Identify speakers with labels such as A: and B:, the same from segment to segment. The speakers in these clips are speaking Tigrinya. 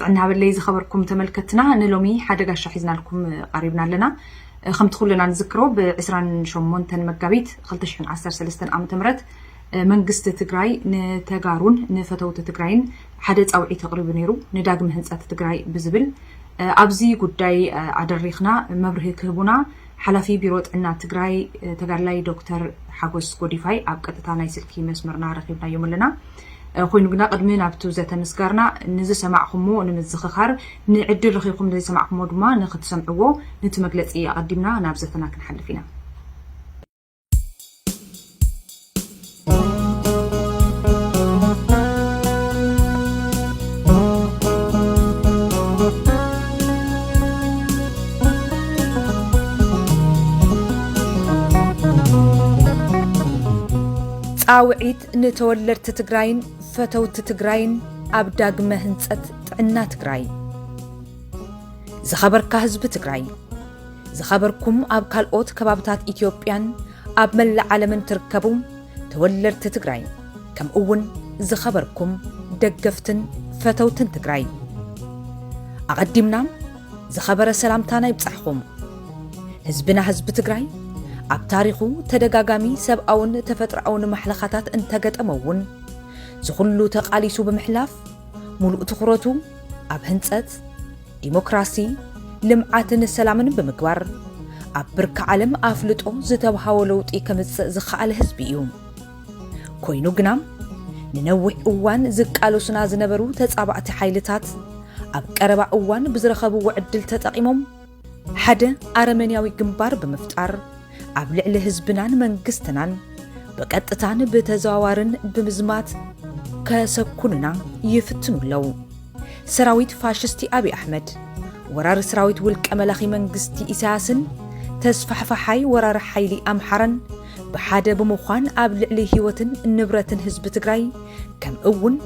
A: ጥዕና ሃበለይ ዝኸበርኩም ተመልከትና ንሎሚ ሓደ ጋሻ ሒዝናልኩም ቐሪብና ኣለና ከምቲ ኩልና ንዝክሮ ብ28 መጋቢት 2013 ዓ ም መንግስቲ ትግራይ ንተጋሩን ንፈተውቲ ትግራይን ሓደ ፃውዒት ኣቕሪቡ ነይሩ፣ ንዳግመ ህንፀት ትግራይ ብዝብል። ኣብዚ ጉዳይ ኣደሪኽና መብርሂ ክህቡና ሓላፊ ቢሮ ጥዕና ትግራይ ተጋድላይ ዶክተር ሓጎስ ጎዲፋይ ኣብ ቀጥታ ናይ ስልኪ መስመርና ረኺብናዮም ኣለና። ኮይኑ ግና ቅድሚ ናብቱ ዘተ ምስጋርና ንዝሰማዕኹምዎ ንምዝኽኻር ንዕድል ረኺብኩም ንዘይሰማዕኹምዎ ድማ ንኽትሰምዕዎ ንቲ መግለፂ ኣቐዲምና ናብ ዘተና ክንሓልፍ ኢና። ፃውዒት ንተወለድቲ ትግራይን ፈተውቲ ትግራይን ኣብ ዳግመ ህንፀት ጥዕና ትግራይ! ዝኸበርካ ህዝቢ ትግራይ! ዝኸበርኩም ኣብ ካልኦት ከባብታት ኢትዮጵያን ኣብ መላእ ዓለምን ትርከቡ ተወለድቲ ትግራይ ከምኡ እውን ዝኸበርኩም ደገፍትን ፈተውትን ትግራይ ኣቐዲምና ዝኸበረ ሰላምታና ይብጻሕኹም። ህዝብና ህዝቢ ትግራይ ኣብ ታሪኹ ተደጋጋሚ ሰብኣውን ተፈጥሮኣውን ማሕለኻታት እንተገጠመ እውን ዝኹሉ ተቓሊሱ ብምሕላፍ ሙሉእ ትኹረቱ ኣብ ህንፀት ዲሞክራሲ፣ ልምዓትን ሰላምን ብምግባር ኣብ ብርኪ ዓለም ኣፍልጦ ዝተብሃዎ ለውጢ ከምፅእ ዝኸኣለ ህዝቢ እዩ። ኮይኑ ግና ንነዊሕ እዋን ዝቃለሱና ዝነበሩ ተፃባእቲ ሓይልታት ኣብ ቀረባ እዋን ብዝረኸብዎ ዕድል ተጠቒሞም ሓደ ኣረመንያዊ ግንባር ብምፍጣር ኣብ ልዕሊ ህዝብናን መንግስትናን ብቀጥታን ብተዘዋዋርን ብምዝማት ከሰኩኑና ይፍትኑ ኣለው። ሰራዊት ፋሽስቲ ኣብይ ኣሕመድ፣ ወራሪ ስራዊት ውልቀ መላኺ መንግስቲ ኢሳያስን ተስፋሕፋሓይ ወራሪ ሓይሊ ኣምሓራን ብሓደ ብምዃን ኣብ ልዕሊ ህይወትን ንብረትን ህዝቢ ትግራይ ከምእውን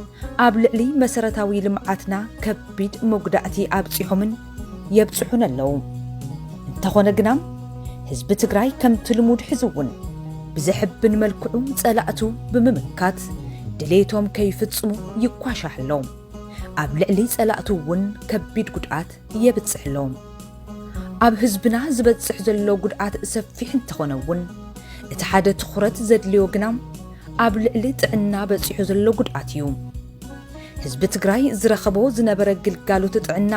A: ኣብ ልዕሊ መሰረታዊ ልምዓትና ከቢድ መጉዳእቲ ኣብፂሖምን የብፅሑን ኣለዉ። እንተኾነ ግና ህዝቢ ትግራይ ከምቲ ልሙድ ሕዚ እውን ብዘሕብን መልክዑ ፀላእቱ ብምምካት ድሌቶም ከይፍፅሙ ይኳሻሕ ኣሎ። ኣብ ልዕሊ ፀላእቱ እውን ከቢድ ጉድኣት የብፅሕ ኣሎ። ኣብ ህዝብና ዝበፅሕ ዘሎ ጉድኣት ሰፊሕ እንተኾነ እውን እቲ ሓደ ትኹረት ዘድልዮ ግና ኣብ ልዕሊ ጥዕና በፂሑ ዘሎ ጉድኣት እዩ። ህዝቢ ትግራይ ዝረኸቦ ዝነበረ ግልጋሎት ጥዕና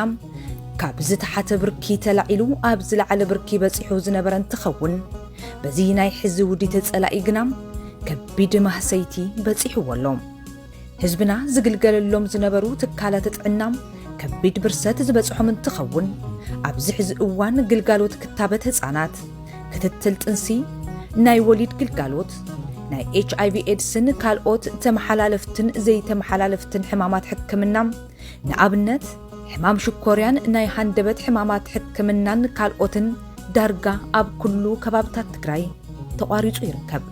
A: ካብ ዝተሓተ ብርኪ ተላዒሉ ኣብ ዝለዓለ ብርኪ በፂሑ ዝነበረ እንትኸውን በዚ ናይ ሕዚ ውዲት ፀላኢ ግና ከቢድ ማህሰይቲ በፂሕዎ ኣሎ። ህዝብና ዝግልገለሎም ዝነበሩ ትካላት ጥዕና ከቢድ ብርሰት ዝበፅሖም እንትኸውን ኣብዚ ሕዚ እዋን ግልጋሎት ክታበት ህፃናት ክትትል ጥንሲ፣ ናይ ወሊድ ግልጋሎት፣ ናይ ኤች ኣይቪ ኤድስን ካልኦት ተመሓላለፍትን ዘይተመሓላለፍትን ሕማማት ሕክምና፣ ንኣብነት ሕማም ሽኮርያን ናይ ሃንደበት ሕማማት ሕክምናን ካልኦትን ዳርጋ ኣብ ኩሉ ከባብታት ትግራይ ተቋሪፁ ይርከብ።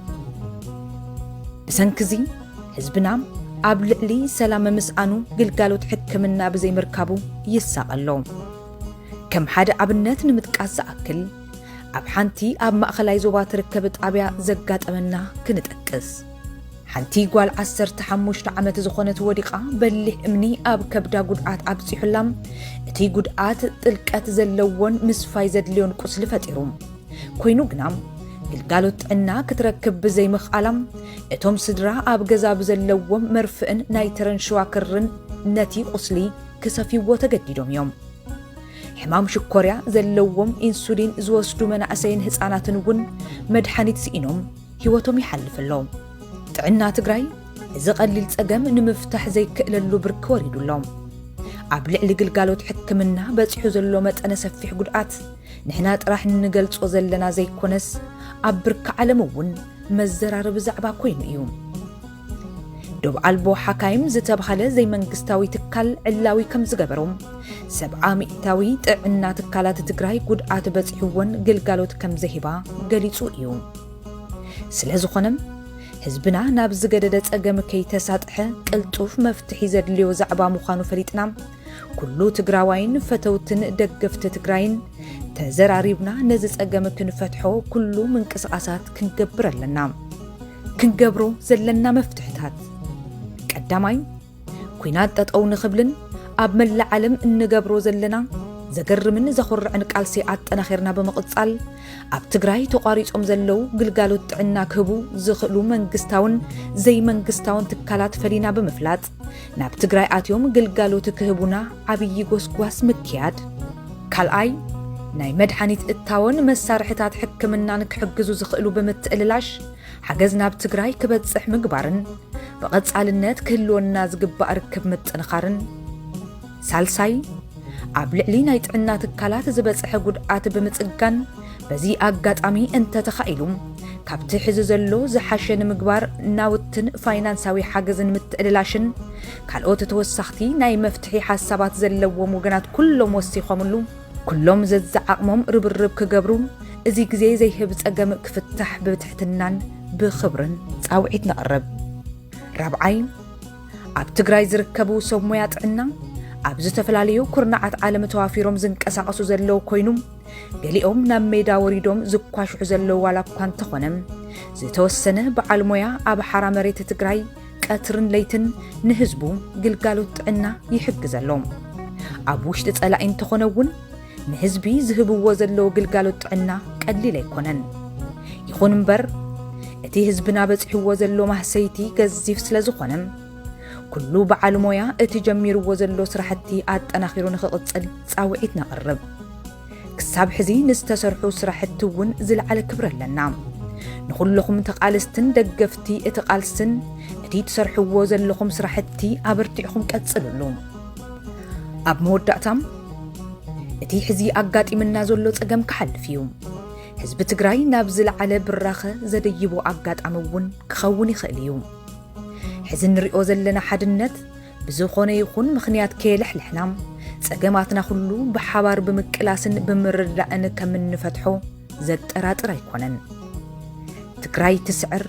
A: ብሰንኪ እዚ ህዝብና ኣብ ልዕሊ ሰላም ምስኣኑ ግልጋሎት ሕክምና ብዘይምርካቡ ይሳቐ ኣሎ። ከም ሓደ ኣብነት ንምጥቃስ ዝኣክል ኣብ ሓንቲ ኣብ ማእኸላይ ዞባ ትርከብ ጣብያ ዘጋጠመና ክንጠቅስ። ሓንቲ ጓል ዓሰርተ ሓሙሽተ ዓመት ዝኾነት ወዲቓ በሊሕ እምኒ ኣብ ከብዳ ጉድኣት ኣብፂሑላ እቲ ጉድኣት ጥልቀት ዘለዎን ምስፋይ ዘድልዮን ቁስሊ ፈጢሩ ኮይኑ ግና ግልጋሎት ጥዕና ክትረክብ ብዘይምኽኣላም እቶም ስድራ ኣብ ገዛ ብዘለዎም መርፍእን ናይ ተረን ሽዋክርን ነቲ ቁስሊ ክሰፍይዎ ተገዲዶም እዮም ሕማም ሽኮርያ ዘለዎም ኢንሱሊን ዝወስዱ መናእሰይን ህፃናትን እውን መድሓኒት ስኢኖም ህይወቶም ይሓልፍ ኣሎ። ጥዕና ትግራይ እዚ ቀሊል ፀገም ንምፍታሕ ዘይክእለሉ ብርኪ ወሪዱ ኣሎ። ኣብ ልዕሊ ግልጋሎት ሕክምና በፂሑ ዘሎ መጠነ ሰፊሕ ጉድኣት ንሕና ጥራሕ እንገልፆ ዘለና ዘይኮነስ ኣብ ብርኪ ዓለም እውን መዘራረቢ ዛዕባ ኮይኑ እዩ። ዶብ ኣልቦ ሓካይም ዝተብሃለ ዘይመንግስታዊ ትካል ዕላዊ ከም ዝገበሮ፣ ሰብዓ ሚእታዊ ጥዕና ትካላት ትግራይ ጉድኣት በፂሕወን ግልጋሎት ከም ዘይህባ ገሊፁ እዩ። ስለ ዝኾነ ህዝብና ናብ ዝገደደ ፀገም ከይተሳጥሐ ቅልጡፍ መፍትሒ ዘድልዮ ዛዕባ ምዃኑ ፈሊጥና ኩሉ ትግራዋይን ፈተውትን ደገፍቲ ትግራይን ተዘራሪብና ነዚ ፀገም ክንፈትሖ ኩሉ ምንቅስቓሳት ክንገብር ኣለና። ክንገብሮ ዘለና መፍትሕታት ቀዳማይ ኩናት ጠጠው ንኽብልን ኣብ መላእ ዓለም እንገብሮ ዘለና ዘገርምን ዘኹርዕን ቃልሲ ኣጠናኺርና ብምቕጻል ኣብ ትግራይ ተቋሪጾም ዘለው ግልጋሎት ጥዕና ክህቡ ዝኽእሉ መንግስታውን ዘይመንግስታውን ትካላት ፈሊና ብምፍላጥ ናብ ትግራይ ኣትዮም ግልጋሎት ክህቡና ዓብዪ ጎስጓስ ምክያድ። ካልኣይ፣ ናይ መድሓኒት እታወን መሳርሕታት ሕክምናን ክሕግዙ ዝኽእሉ ብምትእልላሽ ሓገዝ ናብ ትግራይ ክበፅሕ ምግባርን ብቐፃልነት ክህልወና ዝግባእ ርክብ ምጥንኻርን። ሳልሳይ፣ ኣብ ልዕሊ ናይ ጥዕና ትካላት ዝበጽሐ ጉድኣት ብምጽጋን በዚ ኣጋጣሚ እንተተኻኢሉ ካብቲ ሕዚ ዘሎ ዝሓሸ ንምግባር ናውትን ፋይናንሳዊ ሓገዝን ምትዕልላሽን ካልኦት ተወሳኽቲ ናይ መፍትሒ ሓሳባት ዘለዎም ወገናት ኩሎም ወሲኾምሉ ኩሎም ዘዝዓቕሞም ርብርብ ክገብሩ እዚ ግዜ ዘይህብ ጸገም ክፍታሕ ብትሕትናን ብኽብርን ጻውዒት ነቕርብ። ራብዓይ ኣብ ትግራይ ዝርከቡ ሰብ ሞያ ጥዕና ኣብ ዝተፈላለዩ ኩርናዓት ዓለም ተዋፊሮም ዝንቀሳቐሱ ዘለዉ ኮይኑ ገሊኦም ናብ ሜዳ ወሪዶም ዝኳሽሑ ዘለዉ ዋላ እኳ እንተኾነ ዝተወሰነ በዓል ሞያ ኣብ ሓራ መሬት ትግራይ ቀትርን ለይትን ንህዝቡ ግልጋሎት ጥዕና ይሕግዘ ኣሎ ኣብ ውሽጢ ጸላኢ እንተኾነ እውን ንህዝቢ ዝህብዎ ዘለዉ ግልጋሎት ጥዕና ቀሊል ኣይኮነን። ይኹን እምበር እቲ ህዝብና በጺሕዎ ዘሎ ማህሰይቲ ገዚፍ ስለ ዝኾነ ኩሉ በዓል ሞያ እቲ ጀሚርዎ ዘሎ ስራሕቲ ኣጠናኺሩ ንኽቕጽል ጻውዒት ነቕርብ። ክሳብ ሕዚ ንዝተሰርሑ ስራሕቲ እውን ዝለዓለ ክብሪ ኣለና። ንኹለኹም ተቓለስትን ደገፍቲ እቲ ቃልስን እቲ ትሰርሕዎ ዘለኹም ስራሕቲ ኣበርቲዕኹም ቀጽልሉ። ኣብ መወዳእታም እቲ ሕዚ ኣጋጢምና ዘሎ ጸገም ክሓልፍ እዩ ህዝቢ ትግራይ ናብ ዝለዓለ ብራኸ ዘደይቦ ኣጋጣሚ እውን ክኸውን ይኽእል እዩ ሕዚ እንሪኦ ዘለና ሓድነት ብዝኾነ ይኹን ምኽንያት ከየለሕለሕና ጸገማትና ኩሉ ብሓባር ብምቅላስን ብምርዳእን ከም እንፈትሖ ዘጠራጥር ኣይኮነን ትግራይ ትስዕር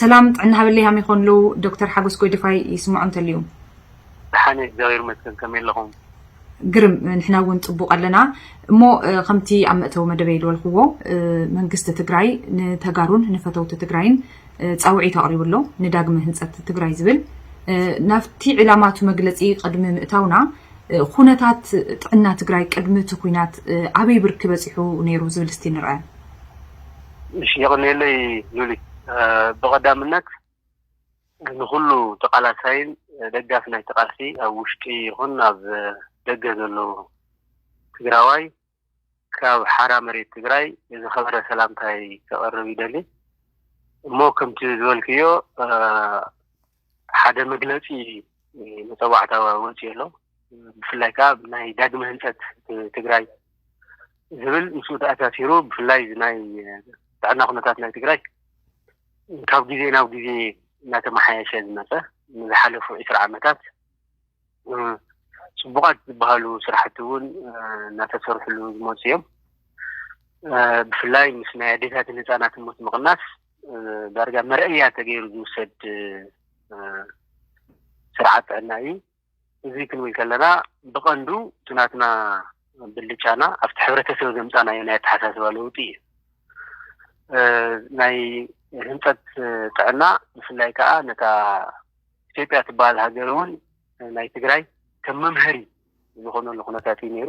A: ሰላም ጥዕና ሃበለይ ሃመይ ክኮኑ ኣለዉ ዶክተር ሓጎስ ጎይደፋይ ይስምዖ እንተልዩ። ደሓን
B: እየ እግዚኣብሔር ይመስገን ከመይ ኣለኹም። ግርም
A: ንሕና እውን ጽቡቅ ኣለና እሞ ከምቲ ኣብ መእተዊ መደበይ ዝበልክዎ መንግስቲ ትግራይ ንተጋሩን ንፈተውቲ ትግራይን ጻውዒት ኣቕሪቡ ኣሎ ንዳግመ ህንጸት ትግራይ ዝብል ናብቲ ዕላማቱ መግለጺ ቅድሚ ምእታውና ኩነታት ጥዕና ትግራይ ቅድሚ እቲ ኩናት ኣበይ ብርኪ በጺሑ ነይሩ ዝብል እስቲ ንርኣ
B: እሺ የቕኔለይ ሉሊ ብቐዳምነት ንኹሉ ተቓላሳይን ደጋፊ ናይቲ ቃልሲ ኣብ ውሽጢ ይኹን ኣብ ደገ ዘሎ ትግራዋይ ካብ ሓራ መሬት ትግራይ ዝኸበረ ሰላምታይ ከቐርብ ይደሊ እሞ ከምቲ ዝበልክዮ ሓደ መግለፂ መፀዋዕታ ወፂኡ ኣሎ ብፍላይ ከዓ ናይ ዳግመ ህንፀት ትግራይ ዝብል ምስኡ ተኣሳሲሩ ብፍላይ ናይ ጥዕና ኩነታት ናይ ትግራይ ካብ ግዜ ናብ ግዜ እናተመሓየሸ ዝመፀ ንዝሓለፉ ዕስራ ዓመታት ፅቡቓት ዝበሃሉ ስራሕቲ እውን እናተሰርሕሉ ዝመፁ እዮም ብፍላይ ምስ ናይ ኣዴታትን ህፃናትን ሞት ምቕናስ ዳርጋ መርኣያ ተገይሩ ዝውሰድ ስርዓት ጥዕና እዩ እዚ ክንብል ከለና ብቐንዱ እቲ ናትና ብልጫና ኣብቲ ሕብረተሰብ ዘምፃናዮ ናይ ኣተሓሳስባ ለውጢ እዩ ናይ ህንፀት ጥዕና ብፍላይ ከዓ ነታ ኢትዮጵያ ትበሃል ሃገር እውን ናይ ትግራይ ከም መምሀሪ ዝኾነሉ ኩነታት እዩ ነይሩ።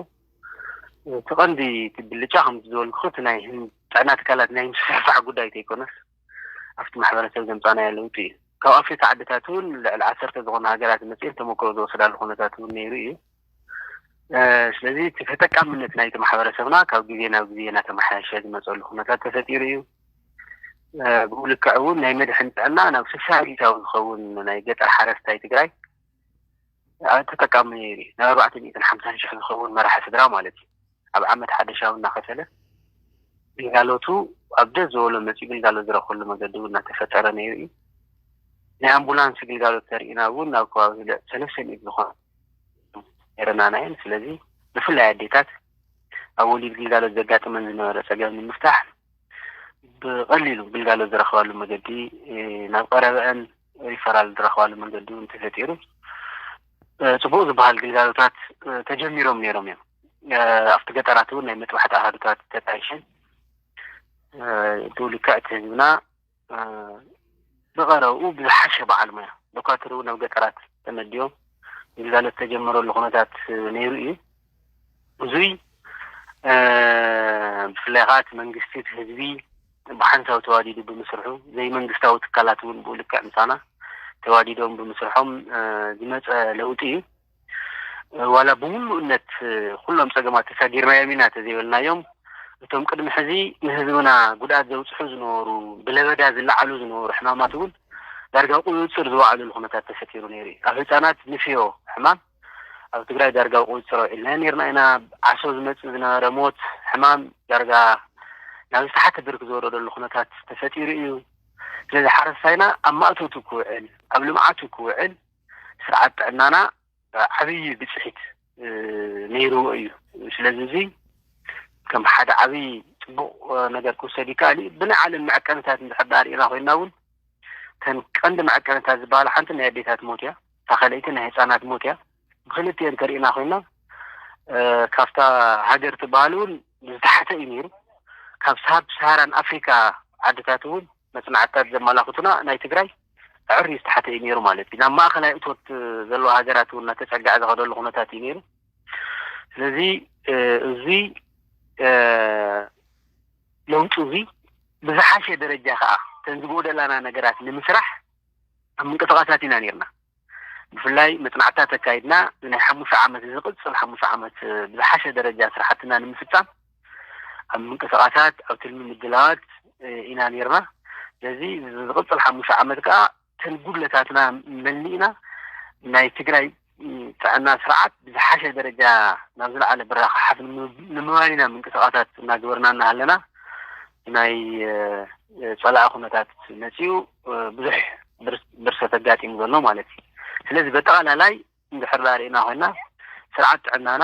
B: እቲ ቀንዲ እቲ ብልጫ ከምቲ ዝበልኩ እቲ ናይ ጥዕና ትካላት ናይ ምስፍሕፋሕ ጉዳይ ተይኮነስ ኣብቲ ማሕበረሰብ ዘምፃናዮ ለውጢ እዩ። ካብ ኣፍሪካ ዓድታት እውን ልዕሊ ዓሰርተ ዝኾና ሃገራት መፅኤን ተሞክሮ ዝወሰዳሉ ኩነታት እውን ነይሩ እዩ። ስለዚ እቲ ተጠቃምነት ናይቲ ማሕበረሰብና ካብ ግዜ ናብ ግዜ እናተመሓየሸ ዝመፀሉ ኩነታት ተፈጢሩ እዩ ብኡ ልክዕ እውን ናይ መድሕን ጥዕና ናብ ስሳ ሚእታዊ ዝኸውን ናይ ገጠር ሓረስታይ ትግራይ ተጠቃሚ ነይሩ ናብ ኣርባዕተ ሚእትን ሓምሳን ሽሕ ዝኸውን መራሒ ስድራ ማለት እዩ ኣብ ዓመት ሓደ ሻው እናኸፈለ ግልጋሎቱ ኣብ ደስ ዝበሎ መፂኡ ግልጋሎት ዝረኽበሉ መገዲ እውን እናተፈጠረ ነይሩ እዩ። ናይ ኣምቡላንስ ግልጋሎት ተርእና እውን ናብ ከባቢ ሰለስተ ሚእቲ ዝኾነ ነይረና ናየን ስለዚ ብፍላይ ኣዴታት ኣብ ወሊድ ግልጋሎት ዘጋጥመን ዝነበረ ፀገም ንምፍታሕ ብቐሊሉ ግልጋሎት ዝረኽባሉ መገዲ ናብ ቀረበአን ሪፈራል ዝረኽባሉ መንገዲ እውን ተፈጢሩ ፅቡቕ ዝበሃል ግልጋሎታት ተጀሚሮም ነይሮም እዮም። ኣብቲ ገጠራት እውን ናይ መጥባሕቲ ኣሃዱታት ተጣይሸን ብኡ ልክዕ እቲ ህዝብና ብቐረብኡ ብዝሓሸ በዓል ሙያ ዶኳትር እውን ኣብ ገጠራት ተመዲቦም ግልጋሎት ተጀመረሉ ኩነታት ነይሩ እዩ። እዙይ ብፍላይ ኸዓ እቲ መንግስቲ እቲ ህዝቢ ብሓንሳብ ተዋዲዱ ብምስርሑ ዘይመንግስታዊ ትካላት እውን ብኡ ልክዕ ምሳና ተዋዲዶም ብምስርሖም ዝመፀ ለውጢ እዩ። ዋላ ብምሉእነት ኩሎም ፀገማት ተሳጊርናዮም ኢና ተዘይበልናዮም እቶም ቅድሚ ሕዚ ንህዝብና ጉድኣት ዘብፅሑ ዝነበሩ ብለበዳ ዝለዓሉ ዝነበሩ ሕማማት እውን ዳርጋ ቁፅፅር ዝወዓሉሉ ኩነታት ተፈጢሩ ነይሩ እዩ። ኣብ ህፃናት ንፍዮ ሕማም ኣብ ትግራይ ዳርጋ ብቁፅፅር ኣውዒልናዮ ነይርና ኢና። ዓሶ ዝመፅእ ዝነበረ ሞት፣ ሕማም ዳርጋ ናብ ዝተሓተ ብርኪ ዝወረደሉ ኩነታት ተፈጢሩ እዩ። ስለዚ ሓረስታይና ኣብ ማእቶቱ ክውዕል፣ ኣብ ልምዓቱ ክውዕል ስርዓት ጥዕናና ዓብዪ ብፅሒት ነይርዎ እዩ። ስለዚ እዚ ከም ሓደ ዓብዪ ፅቡቕ ነገር ክውሰድ ይከኣል እዩ። ብናይ ዓለም መዐቀንታት እንድሕር ዳኣ ሪእና ኮይንና እውን እተን ቀንዲ መዐቀንታት ዝበሃላ ሓንቲ ናይ ኣዴታት ሞት እያ። እታ ካልኣይቲ ናይ ህፃናት ሞት እያ። ብክልቲኤን እንተሪኢና ኮይና ካብታ ሃገር ትበሃል እውን ዝተሓተ እዩ ነይሩ። ካብ ሳብ ሰሃራን ኣፍሪካ ዓድታት እውን መፅናዕትታት ዘመላኽቱና ናይ ትግራይ ኣዕርዩ ዝተሓተ እዩ ነይሩ ማለት እዩ። ናብ ማእኸላይ እቶት ዘለዎ ሃገራት እውን እናተፀግዐ ዝኸደሉ ኩነታት እዩ ነይሩ። ስለዚ እዚ ለውጢ እዚ ብዝሓሸ ደረጃ ከዓ ተን ዝጎደላና ነገራት ንምስራሕ ኣብ ምንቅስቓሳት ኢና ነይርና። ብፍላይ መጽናዕትታት ኣካይድና ንናይ ሓሙሽተ ዓመት ንዝቕጽል ሓሙሽተ ዓመት ብዝሓሸ ደረጃ ስራሕትና ንምፍጻም ኣብ ምንቅስቓሳት ኣብ ትልሚ ምድላዋት ኢና ነይርና። ስለዚ ዝቕጽል ሓሙሽተ ዓመት ከኣ እተን ጉድለታትና መሊእና ናይ ትግራይ ጥዕና ስርዓት ብዝሓሸ ደረጃ ናብ ዝለዓለ ብራኸ ሓፍ ንምባል ኢና ምንቅስቓሳት እናገበርና እናሃለና ናይ ፀላኢ ኩነታት መፅኡ ብዙሕ ብርሰት ኣጋጢሙ ዘሎ ማለት እዩ። ስለዚ በጠቓላላይ እንድሕር ርእና ኮይና ስርዓት ጥዕናና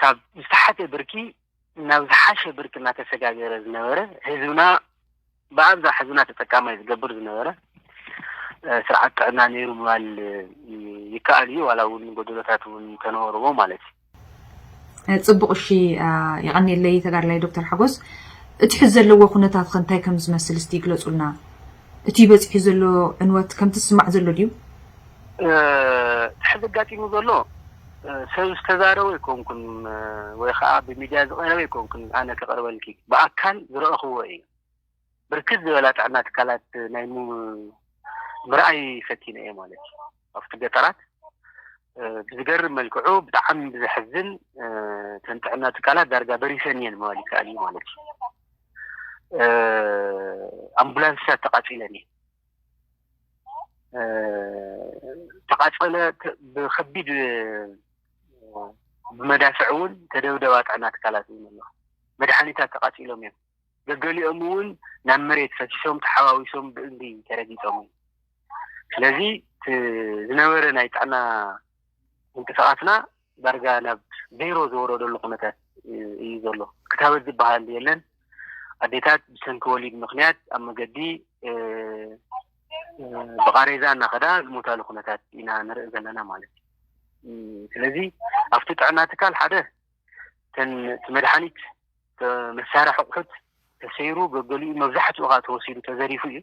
B: ካብ ዝተሓተ ብርኪ ናብ ዝሓሸ ብርኪ እናተሰጋገረ ዝነበረ ህዝብና ብኣብዝሓ ህዝብና ተጠቃማይ ዝገብር ዝነበረ ስርዓት ጥዕና ነይሩ ምባል ይከኣል እዩ ዋላ እውን ጎደሎታት እውን እንተነበርዎ ማለት
A: እዩ ፅቡቕ እሺ ይቐኒለይ ተጋድላይ ዶክተር ሓጎስ እቲ ሕዚ ዘለዎ ኩነታት ከ እንታይ ከም ዝመስል እስቲ ይግለፁልና እቲ በፂሑ ዘሎ ዕንወት ከምቲ ዝስማዕ ዘሎ ድዩ እቲ ሕዚ
B: ኣጋጢሙ ዘሎ ሰብ ዝተዛረቦ ኣይኮንኩን ወይ ኸዓ ብሚድያ ዝቐረበ ኣይኮንኩን ኣነ ከቕርበልኪ ብኣካል ዝረኣኹዎ እዩ ብርክት ዝበላ ጥዕና ትካላት ናይ ምርኣይ ፈቲነ እየ ማለት እዩ ኣብቲ ገጠራት ብዝገርም መልክዑ ብጣዕሚ ብዘሕዝን እተን ጥዕና ትካላት ዳርጋ በሪሰን እየን ምባል ይከኣል እዩ ማለት እዩ ኣምቡላንስታት ተቓፂለን እየን ተቓፀለ ብከቢድ ብመዳፍዕ እውን ተደብደባ ጥዕና ትካላት እውን ኣለዋ መድሓኒታት ተቓፂሎም እዮም ገገሊኦም እውን ናብ መሬት ፈሲሶም ተሓዋዊሶም ብእምኒ ተረጊፆም እዮም ስለዚ ዝነበረ ናይ ጥዕና ምንቅስቓስና ዳርጋ ናብ ዜሮ ዝወረደሉ ኩነታት እዩ ዘሎ። ክታበት ዝበሃል የለን። ኣዴታት ብሰንኪ ወሊድ ምኽንያት ኣብ መገዲ ብቓሬዛ እናኸዳ ዝሞታሉ ኩነታት ኢና ንርኢ ዘለና ማለት እዩ። ስለዚ ኣብቲ ጥዕና ትካል ሓደ እተን እቲ መድሓኒት መሳርሒ ኣቑሑት ተሰይሩ ገገሊኡ መብዛሕትኡ ከዓ ተወሲዱ ተዘሪፉ እዩ።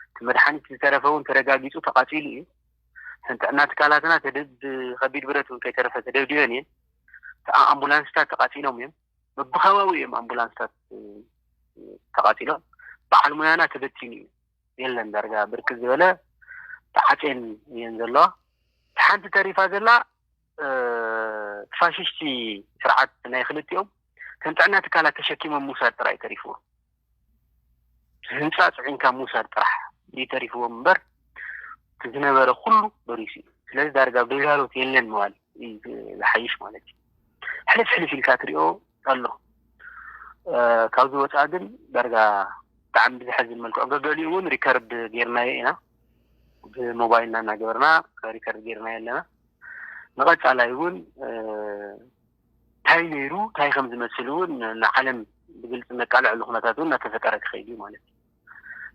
B: እቲ መድሓኒት ዝተረፈ እውን ተረጋጊፁ ተቓፂሉ እዩ። እተን ጥዕና ትካላትና ብከቢድ ብረት እውን ከይተረፈ ተደብዲበን እየን። እቲ ኣምቡላንስታት ተቓፂሎም እዮም። በብከባቢኡ እዮም ኣምቡላንስታት ተቓፂሎም። በዓል ሙያና ተበቲኑ እዩ። የለን ዳርጋ ብርክት ዝበለ ተዓፅየን እየን ዘለዋ። እቲ ሓንቲ ተሪፋ ዘላ እቲ ፋሽስቲ ስርዓት ናይ ክልቲኦም ከም ጥዕና ትካላት ተሸኪሞም ምውሳድ ጥራይ ተሪፍዎ ህንፃ ፅዒንካ ምውሳድ ጥራሕ እዩ ተሪፍዎም እምበር እቲ ዝነበረ ኩሉ በሪሱ እዩ ስለዚ ዳርጋ ኣብ ግልጋሎት የለን ምባል እዩ ዝሓይሽ ማለት እዩ ሕልፍ ሕልፍ ኢልካ ትሪኦ ኣሎ ካብዚ ወፃኢ ግን ዳርጋ ብጣዕሚ ብዘሕዝን መልክዑ ገገሊኡ እውን ሪከርድ ጌርናዮ ኢና ብሞባይልና እናገበርና ሪከርድ ጌርናዮ ኣለና ንቐፃላይ እውን እንታይ ነይሩ እንታይ ከም ዝመስል እውን ንዓለም ብግልፂ እነቃልዐሉ ኩነታት እውን እናተፈጠረ ክኸይድ እዩ ማለት እዩ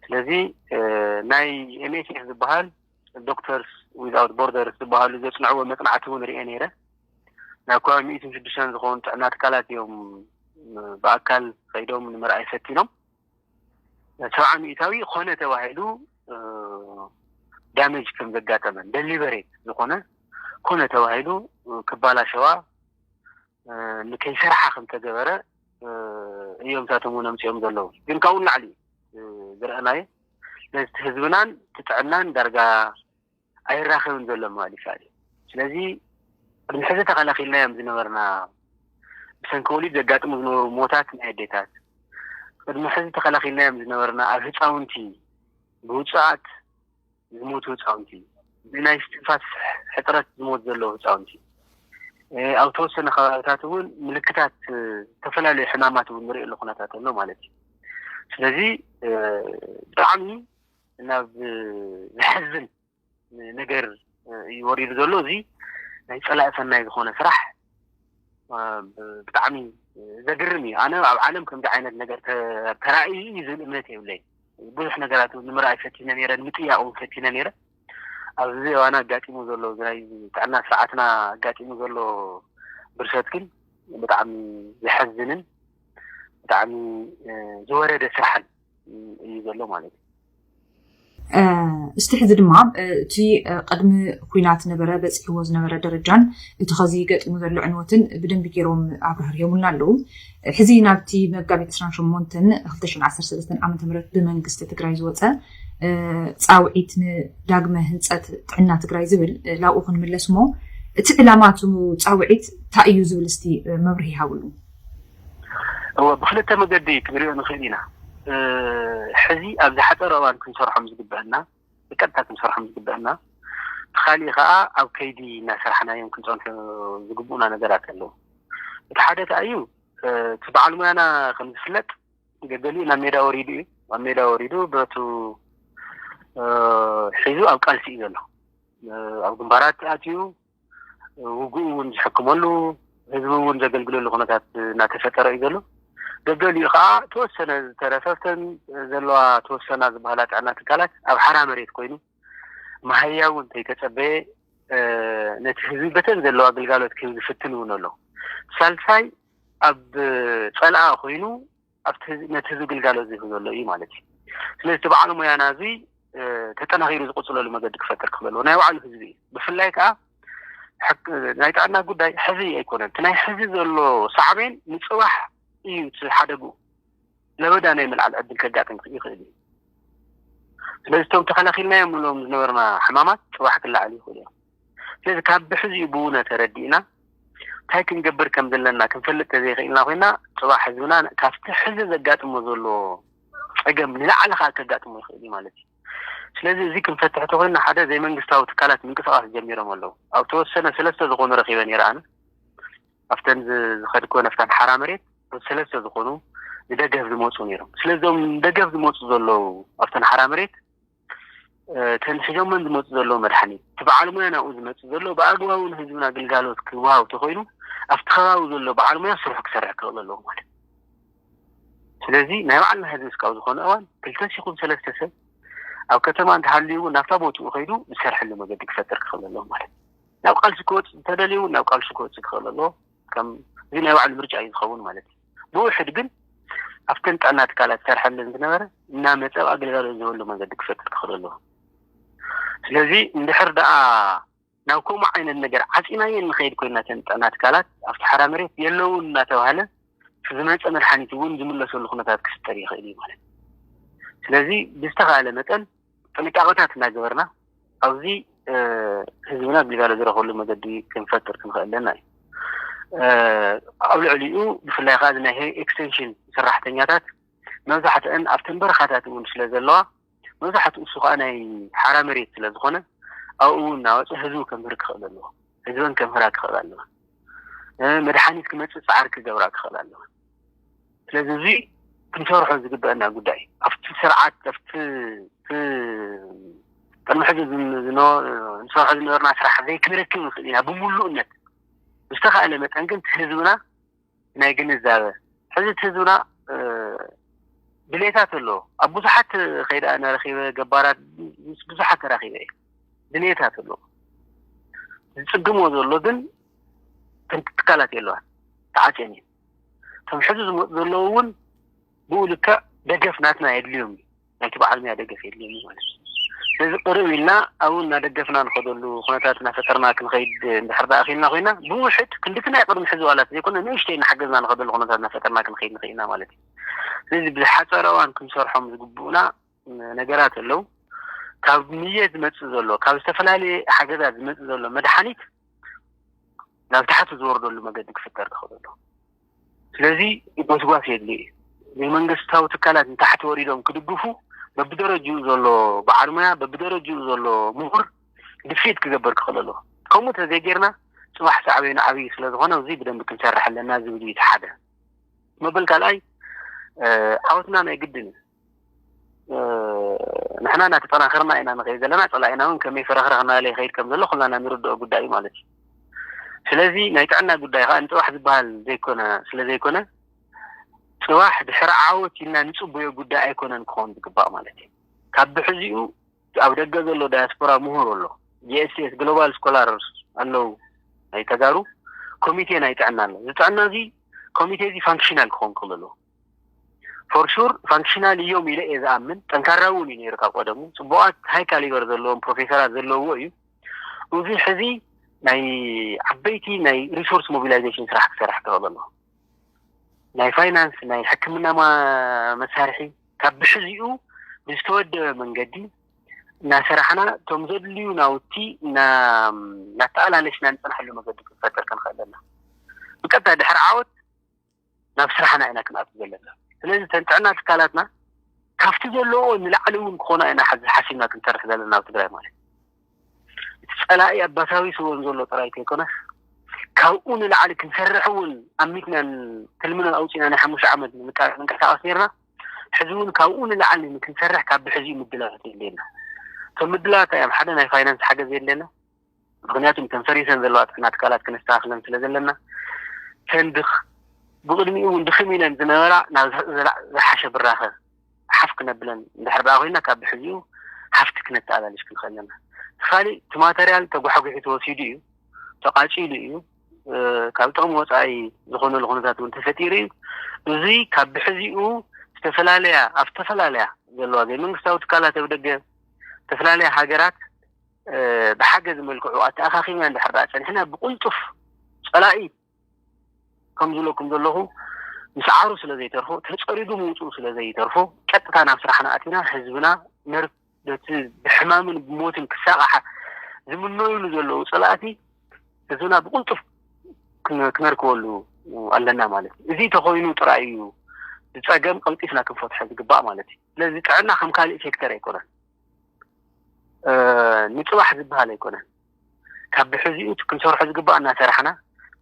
B: ስለዚ ናይ ኤምኤስኤፍ ዝበሃል ዶክተርስ ዊዝኣውት ቦርደርስ ዝበሃሉ ዘፅንዕዎ መፅናዕቲ እውን ርኤ ነይረ ናብ ከባቢ ሚእትን ሽዱሽተን ዝኾኑ ጥዕና ትካላት እዮም ብኣካል ከይዶም ንምርኣይ ፈቲኖም ሰብዓ ሚእታዊ ኮነ ተባሂሉ ዳመጅ ከም ዘጋጠመን ደሊበሬት ዝኾነ ኮነ ተባሂሉ ክባላሸዋ ንከይሰርሓ ከም ተገበረ እዮም እሳቶም እውን ኣምፅኦም ዘለዉ ግን ካብኡ ንላዕሊ ዝረአናዮ ነቲ ህዝብናን ትጥዕናን ዳርጋ ኣይራኸብን ዘሎ ምባል ይከኣል እዩ። ስለዚ ቅድሚ ሕዚ ተኸላኺልናዮም ዝነበርና ብሰንኪ ወሊድ ዘጋጥሙ ዝነበሩ ሞታት ናይ ኣዴታት ቅድሚ ሕዚ ተኸላኺልናዮም ዝነበርና ኣብ ህፃውንቲ ብውፁዓት ዝሞቱ ህፃውንቲ ብናይ ስትንፋስ ሕፅረት ዝሞት ዘለዎ ህፃውንቲ ኣብ ተወሰነ ከባቢታት እውን ምልክታት ዝተፈላለዩ ሕማማት እውን ንሪእሉ ኩነታት ኣሎ ማለት እዩ ስለዚ ብጣዕሚ ናብ ዘሕዝን ነገር እዩ ወሪዱ ዘሎ እዚ ናይ ፀላኢ ሰናይ ዝኾነ ስራሕ ብጣዕሚ ዘግርም እዩ ኣነ ኣብ ዓለም ከምዚ ዓይነት ነገር ተራእዩ እዩ ዝብል እምነት የብለይ ብዙሕ ነገራት ንምርኣይ ፈቲነ ነረ ንምጥያቅ እውን ፈቲነ ነረ ኣብዚ እዋን ኣጋጢሙ ዘሎ ናይ ጥዕና ስርዓትና ኣጋጢሙ ዘሎ ብርሰት ግን ብጣዕሚ ዘሐዝንን ብጣዕሚ ዝወረደ ስራሕን እዩ ዘሎ ማለት እዩ እስቲ ሕዚ
A: ድማ እቲ ቅድሚ ኩናት ነበረ በፂሕዎ ዝነበረ ደረጃን እቲ ከዚ ገጢሙ ዘሎ ዕንወትን ብደንቢ ገይሮም ኣብራህርዮምና ኣለዉ ሕዚ ናብቲ መጋቢት 28 2013 ዓ ም ብመንግስቲ ትግራይ ዝወፀ ፃውዒት ንዳግመ ህንፀት ጥዕና ትግራይ ዝብል ላብኡ ክንምለስ እሞ እቲ ዕላማ እቲ ፃውዒት እንታይ እዩ ዝብል እስቲ መብርሂ ይሃብሉ እወ ብክልተ
B: መገዲ ክንሪኦ ንክእል ኢና ሕዚ ኣብ ዝሓጸረ እዋን ክንሰርሖም ዝግበእና ብቀጥታ ክንሰርሖም ዝግበእና እቲ ካሊእ ከኣ ኣብ ከይዲ እናሰራሕናዮም ክንጸንሑ ዝግብኡና ነገራት ኣለዉ እቲ ሓደ ከኣ እዩ እቲ በዓል ሙያና ከም ዝፍለጥ ገገሊኡ ናብ ሜዳ ወሪዱ እዩ ኣብ ሜዳ ወሪዱ ብረቱ ሒዙ ኣብ ቃልሲ እዩ ዘሎ ኣብ ግንባራት ኣትዩ ውግኡ እውን ዝሕክመሉ ህዝቢ እውን ዘገልግለሉ ኩነታት እናተፈጠረ እዩ ዘሎ ደገሊኡ ከዓ ተወሰነ ዝተረፈፍተን ዘለዋ ተወሰና ዝበሃላ ጥዕና ትካላት ኣብ ሓራ መሬት ኮይኑ መሃያ እውን ተይተፀበየ ነቲ ህዝቢ በተን ዘለዋ ግልጋሎት ክህብ ዝፍትን እውን ኣሎ ሳልሳይ ኣብ ፀልኣ ኮይኑ ኣብቲ ነቲ ህዝቢ ግልጋሎት ዝህብ ዘሎ እዩ ማለት እዩ። ስለዚ እቲ በዓል ሞያና እዚ ተጠናኺሩ ዝቕፅለሉ መገዲ ክፈጥር ክበልዎ ናይ ባዕሉ ህዝቢ እዩ። ብፍላይ ከዓ ናይ ጥዕና ጉዳይ ሕዚ ኣይኮነን እቲ ናይ ሕዚ ዘሎ ሳዕቤን ንፅባሕ እዩ እቲ ሓደግኡ ለበዳ ናይ ምልዓል ዕድል ከጋጥም ይኽእል እዩ ስለዚ እቶም ተኸላኺልናዮም ንብሎም ዝነበርና ሕማማት ፅባሕ ክለዓሉ ይኽእሉ እዮም ስለዚ ካብ ብሕዚኡ ብውነ ተረዲእና እንታይ ክንገብር ከም ዘለና ክንፈልጥ ተዘይክኢልና ኮይና ፅባሕ ህዝብና ካብቲ ሕዚ ዘጋጥሞ ዘሎ ፀገም ንላዕሊ ከዓ ከጋጥሞ ይኽእል እዩ ማለት እዩ ስለዚ እዚ ክንፈትሕ ተኮይና ሓደ ዘይመንግስታዊ ትካላት ምንቅስቃስ ጀሚሮም ኣለዉ ኣብ ተወሰነ ሰለስተ ዝኾኑ ረኪበ ነይረ ኣነ ኣብተን ዝኸድኮ ነፍታን ሓራ መሬት ሰለስተ ዝኾኑ ንደገፍ ዝመፁ ነይሮም ስለዚም ደገፍ ዝመፁ ዘለዉ ኣብተን ሓራ መሬት እተን ሒዞመን ዝመፁ ዘለዉ መድሓኒት እቲ በዓል ሙያ ናብኡ ዝመፅእ ዘሎ ብኣግባቡ ንህዝብና ግልጋሎት ክወሃብ ተኮይኑ ኣብቲ ከባቢ ዘሎ በዓል ሙያ ስርሑ ክሰርሕ ክኽእል ኣለዎ ማለት ስለዚ ናይ ባዕልና ህዝቢ እስካብ ዝኾነ እዋን ክልተ ሲኹም ሰለስተ ሰብ ኣብ ከተማ እንተሃልዩ እውን ናብታ ቦትኡ ከይዱ ዝሰርሐሉ መገዲ ክፈጥር ክኽእል ኣለዎ ማለት ናብ ቃልሲ ክወፅእ እንተደልዩ እውን ናብ ቃልሲ ክወፅእ ክኽእል ኣለዎ ከም እዚ ናይ ባዕሉ ምርጫ እዩ ዝኸውን ማለት እዩ ብውሕድ ግን ኣብተን ጥዕና ትካላት ዝሰርሐለን ዝነበረ እናመፀ ኣብ ኣገልጋሎት ዝበሉ መንገዲ ክፈጥር ክኽእል ኣለዎ ስለዚ እንድሕር ደኣ ናብ ከምኡ ዓይነት ነገር ዓፂናየን ንኸይድ ኮይናተን ጥዕና ትካላት ኣብቲ ሓራ መሬት የለውን እናተባሃለ ዝመፀ መድሓኒት እውን ዝምለሰሉ ኩነታት ክፍጠር ይኽእል እዩ ማለት ስለዚ ብዝተኻእለ መጠን ጥንቃቐታት እናገበርና ኣብዚ ህዝብና ግልጋሎት ዝረኽበሉ መገዲ ክንፈጥር ክንኽእል ኣለና እዩ ኣብ ልዕሊኡ ብፍላይ ከዓ እዚ ናይ ኤክስቴንሽን ሰራሕተኛታት መብዛሕትአን ኣብተን በረኻታት እውን ስለ ዘለዋ መብዛሕትኡ እሱ ከዓ ናይ ሓራ መሬት ስለ ዝኾነ ኣብኡ እናወፀ ህዝቡ ከምህር ክኽእል ኣለዎ ህዝበን ከምህራ ክኽእል ኣለዋ መድሓኒት ክመፅእ ፃዕሪ ክገብራ ክኽእል ኣለዋ ስለዚ እዚ ክንሰርሖ ዝግበአና ጉዳይ እዩ። ኣብቲ ስርዓት ኣብቲ ቅድሚ ሕዚ ንሰርሖ ዝነበርና ስራሕ ዘይክንረክብ ንኽእል ኢና ብምሉእነት ብዝተኻእለ መጠን ግን እቲ ህዝብና ናይ ግንዛበ ሕዚ እቲ ህዝብና ድሌታት ኣለዎ ኣብ ብዙሓት ከይዳ እናረኪበ ገባራት ምስ ብዙሓት ተራኪበ እዩ ድሌታት ኣለዎ ዝፅግሞ ዘሎ ግን ትካላት የለዋን ተዓፅየን እዩ እቶም ሕዚ ዝመፁ ዘለዉ እውን ብኡ ልክዕ ደገፍ ናትና የድልዮም እዩ ናይቲ በዓል ሙያ ደገፍ የድልዮም እዩ ማለት እዩ ስለዚ ቅርብ ኢልና ኣብኡ እናደገፍና ንኸደሉ ኩነታት እናፈጠርና ክንኸይድ እንድሕር ዳኣ ክኢልና ኮይና ብውሕድ ክንድቲ ናይ ቅድሚ ሕዚ ዋላት ዘይኮነ ንእሽተይ እናሓገዝና ንኸደሉ ኩነታት እናፈጠርና ክንኸይድ ንኽእል ኢና ማለት እዩ ስለዚ ብዝሓፀረ እዋን ክንሰርሖም ዝግብኡና ነገራት ኣለው ካብ ንየት ዝመፅእ ዘሎ ካብ ዝተፈላለየ ሓገዛት ዝመፅእ ዘሎ መድሓኒት ናብ ታሕቲ ዝወርደሉ መገዲ ክፍጠር ትኽእል ኣሎ ስለዚ ጎስጓስ የድሊ እዩ ናይ መንግስታዊ ትካላት ንታሕቲ ወሪዶም ክድግፉ በብደረጅኡ ዘሎ በዓል ሙያ በብደረጅኡ ዘሎ ምሁር ድፊት ክገበር ክኽእል ኣለዎ ከምኡ ተዘይጌርና ፅባሕ ሳዕበይኑ ዓብዪ ስለዝኾነ እዚ ብደንቢ ክንሰርሕ ኣለና ዝብል እዩ እቲ ሓደ መበል ካልኣይ ዓወትና ናይ ግድን እዩ ንሕና እናተጠናኸርና ኢና ንኸይድ ዘለና ፀላኢና እውን ከመይ ፈረኽረኽ እናበለ ይኸይድ ከም ዘሎ ኩልና ኢና ንርድኦ ጉዳይ እዩ ማለት እዩ ስለዚ ናይ ጥዕና ጉዳይ ከዓ ንፅባሕ ዝበሃል ዘይኮነ ስለ ዘይኮነ ፅባሕ ድሕሪ ዓወት ኢልና ንፅበዮ ጉዳይ ኣይኮነን ክኸውን ዝግባእ ማለት እዩ ካብ ብሕዚኡ ኣብ ደገ ዘሎ ዳያስፖራ ምሁር ኣሎ ጂኤስኤስ ግሎባል ስኮላር ኣለው ናይ ተጋሩ ኮሚቴ ናይ ጥዕና ኣሎ እዚ ጥዕና እዚ ኮሚቴ እዚ ፋንክሽናል ክኸውን ክእለሉ ፎር ሹር ፋንክሽናል ኢዮም ኢለ ኢየ ዝኣምን ጠንካራ ውን ኢዩ ነይሩ ካብ ቀደሙ ጽቡቃት ሃይ ካሊበር ዘለዎም ፕሮፌሰራት ዘለውዎ ኢዩ ኡዚ ሕዚ ናይ ዓበይቲ ናይ ሪሶርስ ሞቢላይዜሽን ስራሕ ክሰርሕ ተክእሎ ኣለዎ ናይ ፋይናንስ ናይ ሕክምና መሳርሒ ካብ ብሕዚኡ ብዝተወደበ መንገዲ እናሰራሕና እቶም ዘድልዩ ናውቲ እናተኣላለሽና ንጽንሐሉ መገዲ ክንፈጥር ክንክእል ኣለና ብቀጥታ ድሕሪ ዓወት ናብ ስራሕና ኢና ክንኣቱ ዘለና። ስለዚ እተን ጥዕና ትካላትና ካብቲ ዘለውኦ ንላዕሊ እውን ክኾና ኢና ሓዚ ሓሲብና ክንሰርሕ ዘለና ኣብ ትግራይ ማለት እዩ። እቲ ፀላኢ ኣባሳቢስወን ዘሎ ጥራይ ከይኮነስ ካብኡ ንላዕሊ ክንሰርሕ እውን ኣሚትናን ትልምና ኣውፂና ናይ ሓሙሽተ ዓመት ንንቀሳቐስ ነርና። ሕዚ እውን ካብኡ ንላዕሊ ንክንሰርሕ ካብ ብሕዚኡ ምድላዋት የድልየና። እቶም ምድላዋት እዮም ሓደ ናይ ፋይናንስ ሓገዝ የድልየና። ምኽንያቱ እተን ፈሪሰን ዘለዋ ጥዕና ትካላት ከነስተኻኽለን ስለ ዘለና፣ እተን ድኽ ብቕድሚኡ እውን ድኽም ኢለን ዝነበራ ናብ ዝሓሸ ብራኸ ሓፍ ክነብለን እንድሕር ደኣ ኮይና ካብ ብሕዚኡ ሃፍቲ ክነተኣላልሽ ክንኽእል ኣለና። እቲ ካሊእ እቲ ማተርያል ተጓሕጒሑ ተወሲዱ እዩ፣ ተቓፂሉ እዩ፣ ካብ ጥቕሚ ወፃኢ ዝኾነሉ ኩነታት እውን ተፈጢሩ እዩ። እዚ ካብ ብሕዚኡ ዝተፈላለያ ኣብ ዝተፈላለያ ዘለዋ ዘይመንግስታዊ ትካላት ኣብ ደገ ዝተፈላለያ ሃገራት ብሓገዚ መልክዑ ኣተኣኻኺብና እንድሕር ደኣ ጸኒሕና ብቕልጡፍ ጸላኢ ከም ዝብለኩም ዘለኹ ምስዓሩ ስለ ዘይተርፎ ተጸሪጉ ምውጽኡ ስለ ዘይተርፎ ቀጥታ ናብ ስራሕና ኣቲና ህዝብና ነር ነቲ ብሕማምን ብሞትን ክሳቕሓ ዝምነዩሉ ዘለዉ ጸላእቲ ህዝብና ብቕልጡፍ ክነርክበሉ ኣለና ማለት እዩ እዚ ተኮይኑ ጥራይ እዩ ዝፀገም ቀልጢፍና ክንፈትሖ ዝግባእ ማለት እዩ ስለዚ ጥዕና ከም ካልእ ሴክተር ኣይኮነን ንፅባሕ ዝበሃል ኣይኮነን ካብ ብሕዚኡ ክንሰርሖ ዝግባእ እናሰራሕና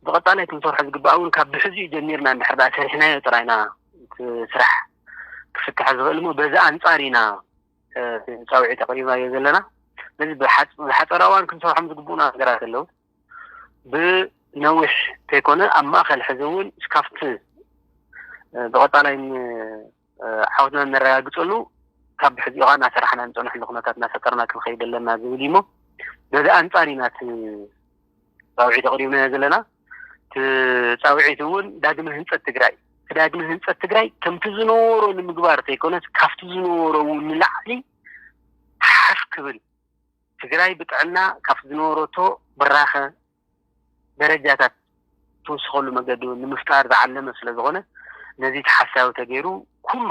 B: ብቐፃላይ ክንሰርሖ ዝግባእ እውን ካብ ብሕዚኡ ጀሚርና እንድሕር ዳኣ ሰሪሕናዮ ጥራይ ኢና እቲ ስራሕ ክፍታሕ ዝኽእል እሞ በዚ ኣንፃር ኢና ፃውዒት ኣቕሪብናዮ ዘለና ስለዚ ብሓፀረ እዋን ክንሰርሖም ዝግብኡና ነገራት ኣለዉ ብነዊሕ ከይኮነ ኣብ ማእኸል ሕዚ እውን እስካፍቲ ብቐፃላይ ዓወትና እነረጋግፀሉ ካብ ብሕዚ እዋን እናሰራሕና እንፀንሕሉ ኩነታት እናፈጠርና ክንኸይድ ኣለና ዝብል እዩ እሞ በዚ ኣንፃር ኢና እቲ ፃውዒት ኣቕሪብናዮ ዘለና እቲ ፃውዒት እውን ዳግመ ህንፀት ትግራይ እቲ ዳግመ ህንፀት ትግራይ ከምቲ ዝነበሮ ንምግባር ዘይኮነስ ካብቲ ዝነበሮ እውን ንላዕሊ ሓፍ ክብል ትግራይ ብጥዕና ካብቲ ዝነበረቶ ብራኸ ደረጃታት ትውስኸሉ መገዲ ንምፍጣር ዝዓለመ ስለዝኾነ ነዚ ተሓሳቢ ተገይሩ ኩሉ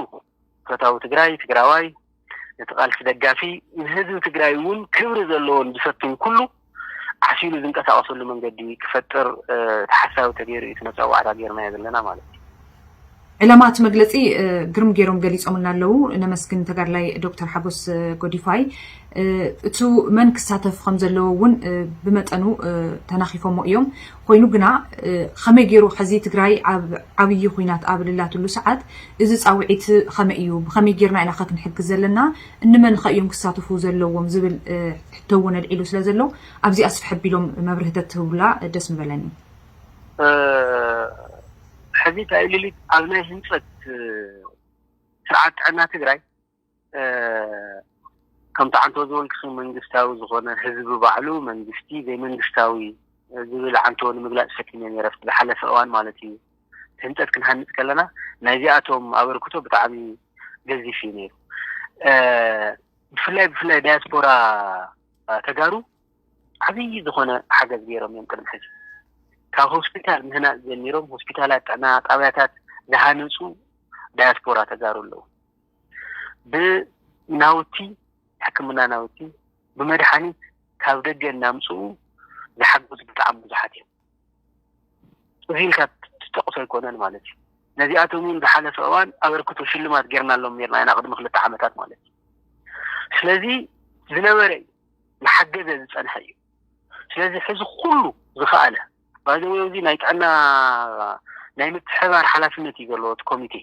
B: ፈታዊ ትግራይ፣ ትግራዋይ፣ ነቲ ቃልሲ ደጋፊ፣ ንህዝቢ ትግራይ እውን ክብሪ ዘለዎን ዝፈትን ኩሉ ዓሲሉ ዝንቀሳቐሰሉ መንገዲ ክፈጥር ተሓሳቢ ተገይሩ እዩ እቲ መፀዋዕታ ገይርናዮ ዘለና ማለት እዩ። ዕላማ
A: እቲ መግለፂ ግርም ገይሮም ገሊፆምልና ኣለው። ነመስግን ተጋድላይ ዶክተር ሓጎስ ጎዲፋይ እቱ መን ክሳተፍ ከም ዘለዎ እውን ብመጠኑ ተናኺፎሞ እዮም። ኮይኑ ግና ከመይ ገይሩ ሐዚ ትግራይ ኣብ ዓብዪ ኩናት ኣብ ልላትሉ ሰዓት እዚ ፃውዒት ከመይ እዩ ብከመይ ገይርና ኢና ከ ክንሕግዝ ዘለና እንመን ከ እዮም ክሳተፉ ዘለዎም ዝብል ሕቶ እውን ኣልዒሉ ስለ ዘሎ ኣብዚ ኣስፍሕ ኣቢሎም መብርህተት ትህቡላ ደስ ምበለኒ። ሕዚ
B: እታ ኢሊሊት ኣብ ናይ ህንፀት ስርዓት ጥዕና ትግራይ ከምቲ ዓንተቦ ዝበልክኺ መንግስታዊ ዝኾነ ህዝቢ ባዕሉ መንግስቲ ዘይመንግስታዊ ዝብል ዓንተቦ ንምግላፅ ፈቲነ ነይረ ኣብቲ ዝሓለፈ እዋን ማለት እዩ ህንፀት ክንሃንፅ ከለና ናይዚኣቶም ኣበርክቶ ብጣዕሚ ገዚፍ እዩ ነይሩ ብፍላይ ብፍላይ ዳያስፖራ ተጋሩ ዓብዪ ዝኾነ ሓገዝ ገይሮም እዮም ቅድሚ ሕዚ ካብ ሆስፒታል ምህናፅ ጀሚሮም ሆስፒታላት ጥዕና ጣብያታት ዝሃነፁ ዳያስፖራ ተጋሩ ኣለዉ ብናውቲ ሕክምና ናውቲ ብመድሓኒት ካብ ደገ እናምፅኡ ዝሓገዙ ብጣዕሚ ብዙሓት እዮም እዚ ኢልካ ትጠቕሶ ኣይኮነን ማለት እዩ ነዚኣቶም እውን ዝሓለፈ እዋን ኣበርክቶ ሽልማት ጌርናሎም ኔርና ኢና ቅድሚ ክልተ ዓመታት ማለት እዩ ስለዚ ዝነበረ እዩ ዝሓገዘ ዝፀንሐ እዩ ስለዚ ሕዚ ኩሉ ዝኸኣለ ባይዘወ እዚ ናይ ጥዕና ናይ ምትሕባር ሓላፍነት እዩ ዘለዎ እቲ ኮሚቴ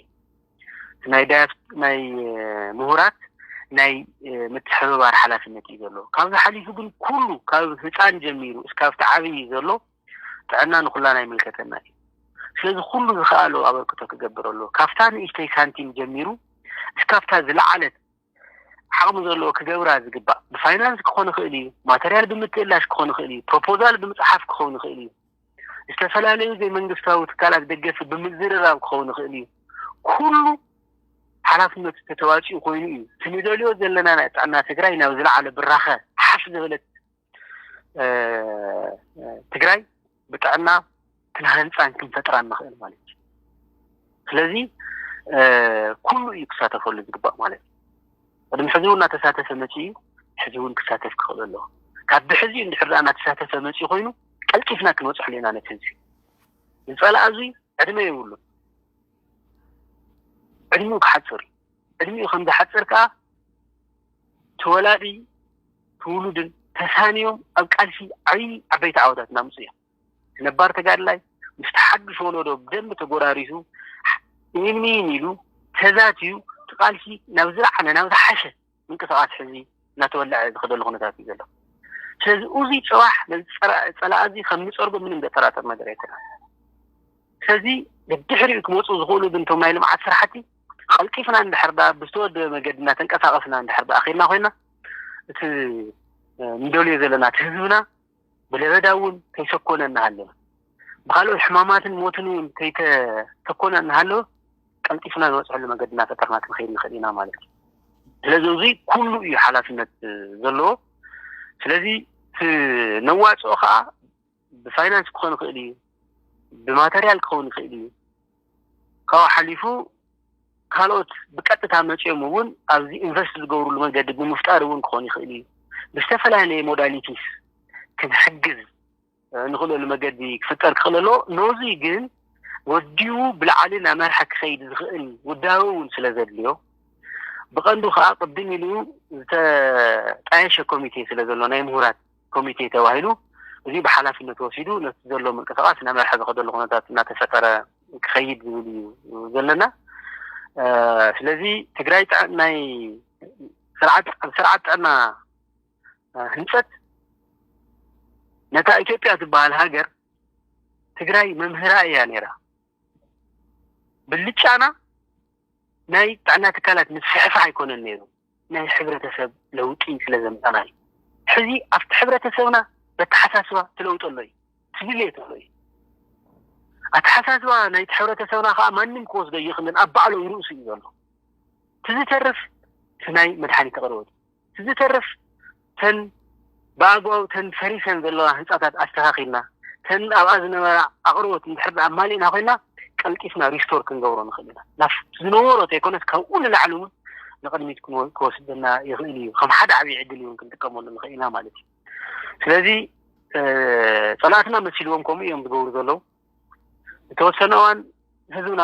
B: ናይ ዳያስ ናይ ምሁራት ናይ ምትሕብባር ሓላፍነት እዩ ዘሎ ካብዚ ሓሊፉ ግን ኩሉ ካብ ህፃን ጀሚሩ እስካብ ተዓብይ ዘሎ ጥዕና ንኩላና ይምልከተና እዩ ስለዚ ኩሉ ዝኸኣሎ ኣበርክቶ ክገብር ኣሎ ካብታ ንእሽተይ ሳንቲም ጀሚሩ እስካብታ ዝለዓለት ዓቕሚ ዘለዎ ክገብራ ዝግባእ ብፋይናንስ ክኾን ይኽእል እዩ፣ ማተርያል ብምትእላሽ ክኾን ይኽእል እዩ፣ ፕሮፖዛል ብምፅሓፍ ክኸውን ይኽእል እዩ፣ ዝተፈላለዩ ዘይመንግስታዊ ትካላት ደገፊ ብምዝርራብ ክኸውን ይኽእል እዩ፣ ኩሉ ሓላፍነቱ ተተዋፂኡ ኮይኑ እዩ እቲ ንደልዮ ዘለና ናይ ጥዕና ትግራይ ናብ ዝለዓለ ብራኸ ሓፍ ዝበለት ትግራይ ብጥዕና ክንሃንፃን ክንፈጥራን ንኽእል ማለት እዩ ስለዚ ኩሉ እዩ ክሳተፈሉ ዝግባእ ማለት እዩ ቅድሚ ሕዚ እውን እናተሳተፈ መፂ እዩ ሕዚ እውን ክሳተፍ ክኽእል ኣለዎ ካብ ብሕዚ እንድሕር ዳኣ እናተሳተፈ መፂ ኮይኑ ቀልጢፍና ክንበፅሐሉ ኢና ነቲ ህዝቢ ዝፀላእ እዚ ዕድመ የብሉ ዕድሚኡ ክሓፅር እዩ ዕድሚኡ ከም ዝሓፅር ከዓ ተወላዲ ትውሉድን ተሳንዮም ኣብ ቃልሲ ዓብይ ዓበይቲ ዓወታት እናምፁ እዮም። ነባር ተጋድላይ ምስቲ ሓዱሽ ወለዶ ብደንቢ ተጎራሪሱ ኢንሚን ኢሉ ተዛትዩ እቲ ቃልሲ ናብ ዝለዓለ ናብ ዝሓሸ ምንቅስቃስ ሕዚ እናተወለዐ ዝኸደሉ ኩነታት እዩ ዘሎ። ስለዚ እዚ ፅባሕ ነዚ ፀላእ እዚ ከም ንፀርጎ ምንም ዘጠራጥር ነገር ኣይኮነን። ስለዚ ብድሕሪኡ ክመፁ ዝኽእሉ ግን እቶም ናይ ልምዓት ስራሕቲ ቐልጢፍና እንድሕር ደኣ ብዝተወደበ መገዲ እናተንቀሳቐስና እንድሕር ደኣ ኬድና ኮይና እቲ ንደልዮ ዘለና እቲ ህዝብና ብለበዳ እውን ከይሰኮነ እናሃለወ ብካልኦት ሕማማትን ሞትን እውን ከይተሰኮነ እናሃለወ ቀልጢፍና ንበፅሐሉ መገዲ እናፈጠርና ክንኸይድ ንኽእል ኢና ማለት እዩ ስለዚ እዙይ ኩሉ እዩ ሓላፍነት ዘለዎ ስለዚ እቲ ነዋፅኦ ከዓ ብፋይናንስ ክኾን ይኽእል እዩ፣ ብማተርያል ክኸውን ይኽእል እዩ፣ ካብኡ ሓሊፉ ካልኦት ብቀጥታ መፂኦም እውን ኣብዚ ኢንቨስት ዝገብሩሉ መንገዲ ብምፍጣር እውን ክኾን ይኽእል እዩ። ብዝተፈላለየ ሞዳሊቲስ ክንሕግዝ ንኽእለሉ መገዲ ክፍጠር ክኽእል ኣለዎ። ነዙይ ግን ወዲቡ ብላዕሊ ናመርሐ ክኸይድ ዝኽእል ውዳበ እውን ስለዘድልዮ ብቐንዱ ከዓ ቅድም ኢሉ ዝተጣየሸ ኮሚቴ ስለዘሎ ናይ ምሁራት ኮሚቴ ተባሂሉ እዚ ብሓላፍነት ወሲዱ ነቲ ዘሎ ምንቅስቓስ እናመርሐ ዝኸደሉ ኩነታት እናተፈጠረ ክኸይድ ዝብል እዩ ዘለና ስለዚ ትግራይ ናይ ስርዓት ኣብ ስርዓት ጥዕና ህንፀት ነታ ኢትዮጵያ ዝበሃል ሃገር ትግራይ መምህራ እያ ነይራ ብልጫና ናይ ጥዕና ትካላት ምስፍሕፋሕ ኣይኮነን ነይሩ ናይ ሕብረተሰብ ለውጢ ስለ ዘምጻእና እዩ። ሕዚ ኣብቲ ሕብረተሰብና በተሓሳስባ ትለውጦ ኣሎ እዩ። ትድልየት ኣሎ እዩ። ኣተሓሳስባ ናይቲ ሕብረተሰብና ከኣ ማንም ክወስዶ እይኽልን ኣብ ባዕሎይ ርእሱ እዩ ዘሎ። ትዝተርፍ እቲ ናይ መድሓኒት ኣቕርቦት እዩ። ትዝተርፍ እተን ብኣግባቡ እተን ፈሪሰን ዘለዋ ህንጻታት ኣስተኻኺልና እተን ኣብኣ ዝነበራ ኣቕርቦት እንድሕር ደኣ ኣማሊእና ኮይና ቀልጢፍና ሪስቶር ክንገብሮ ንኽእል ኢና። ናብቲ ዝነበሮ እንተይኮነስ ካብኡ ንላዕሊ እውን ንቕድሚት ክወስደና ይኽእል እዩ። ከም ሓደ ዓብዪ ዕድል እውን ክንጥቀመሉ ንኽእል ኢና ማለት እዩ። ስለዚ ጸላእትና መሲልዎም ከምኡ እዮም ዝገብሩ ዘለዉ። ዝተወሰነ እዋን ህዝብና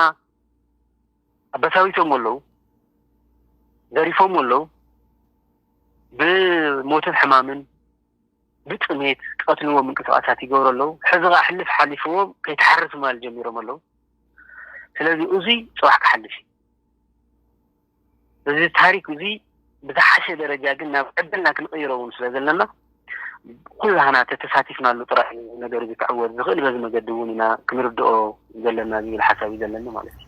B: ኣበሳዊሶሞ ኣለው ዘሪፎሞ ኣለው ብሞትን ሕማምን ብጥሜት ቀትልዎ ምንቅስቃሳት ይገብሩ ኣለው ሕዚ ከዓ ሕልፍ ሓሊፍዎ ከይተሓርስ ማል ጀሚሮም ኣለው ስለዚ እዙይ ፅባሕ ክሓልፍ እዩ እዚ ታሪክ እዙይ ብዝሓሸ ደረጃ ግን ናብ ዕድልና ክንቕይሮ እውን ስለ ዘለና ኩላህና ተተሳቲፍናሉ ጥራሕ እዩ እዚ ነገር እዚ ክዕወት ዝኽእል በዚ መገዲ እውን ኢና ክንርድኦ ዘለና ዝብል ሓሳብ እዩ ዘለኒ ማለት እዩ።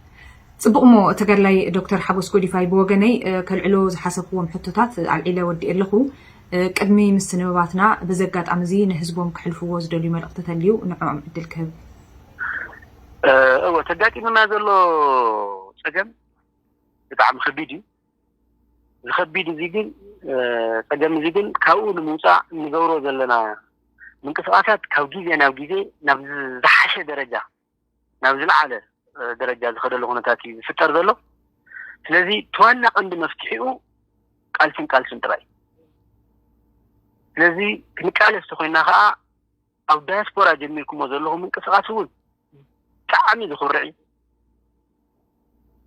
B: ጽቡቕ እሞ
A: ተጋድላይ ዶክተር ሓጎስ ጎዲፋይ ብወገነይ ከልዕሎ ዝሓሰብክዎም ሕቶታት ኣልዒለ ወዲኤ ኣለኹ። ቅድሚ ምስንብባትና በዚ ኣጋጣሚ እዚ ንህዝቦም ክሕልፍዎ ዝደልዩ መልእኽቲ ተልዩ ንዕኦም ዕድል ክህብ። እወ
B: እቲ ኣጋጢሙና ዘሎ ጸገም ብጣዕሚ ከቢድ እዩ። ዝከቢድ እዚ ግን ፀገም እዚ ግን ካብኡ ንምውፃእ እንገብሮ ዘለና ምንቅስቃሳት ካብ ግዜ ናብ ግዜ ናብ ዝሓሸ ደረጃ ናብ ዝለዓለ ደረጃ ዝኸደሉ ኩነታት እዩ ዝፍጠር ዘሎ ስለዚ ተዋና ቀንዲ መፍትሒኡ ቃልስን ቃልስን ጥራይ ስለዚ ክንቃለስ ተኮይና ከዓ ኣብ ዳያስፖራ ጀሚርኩሞ ዘለኹም ምንቅስቃስ እውን ብጣዕሚ ዝኹርዕ እዩ።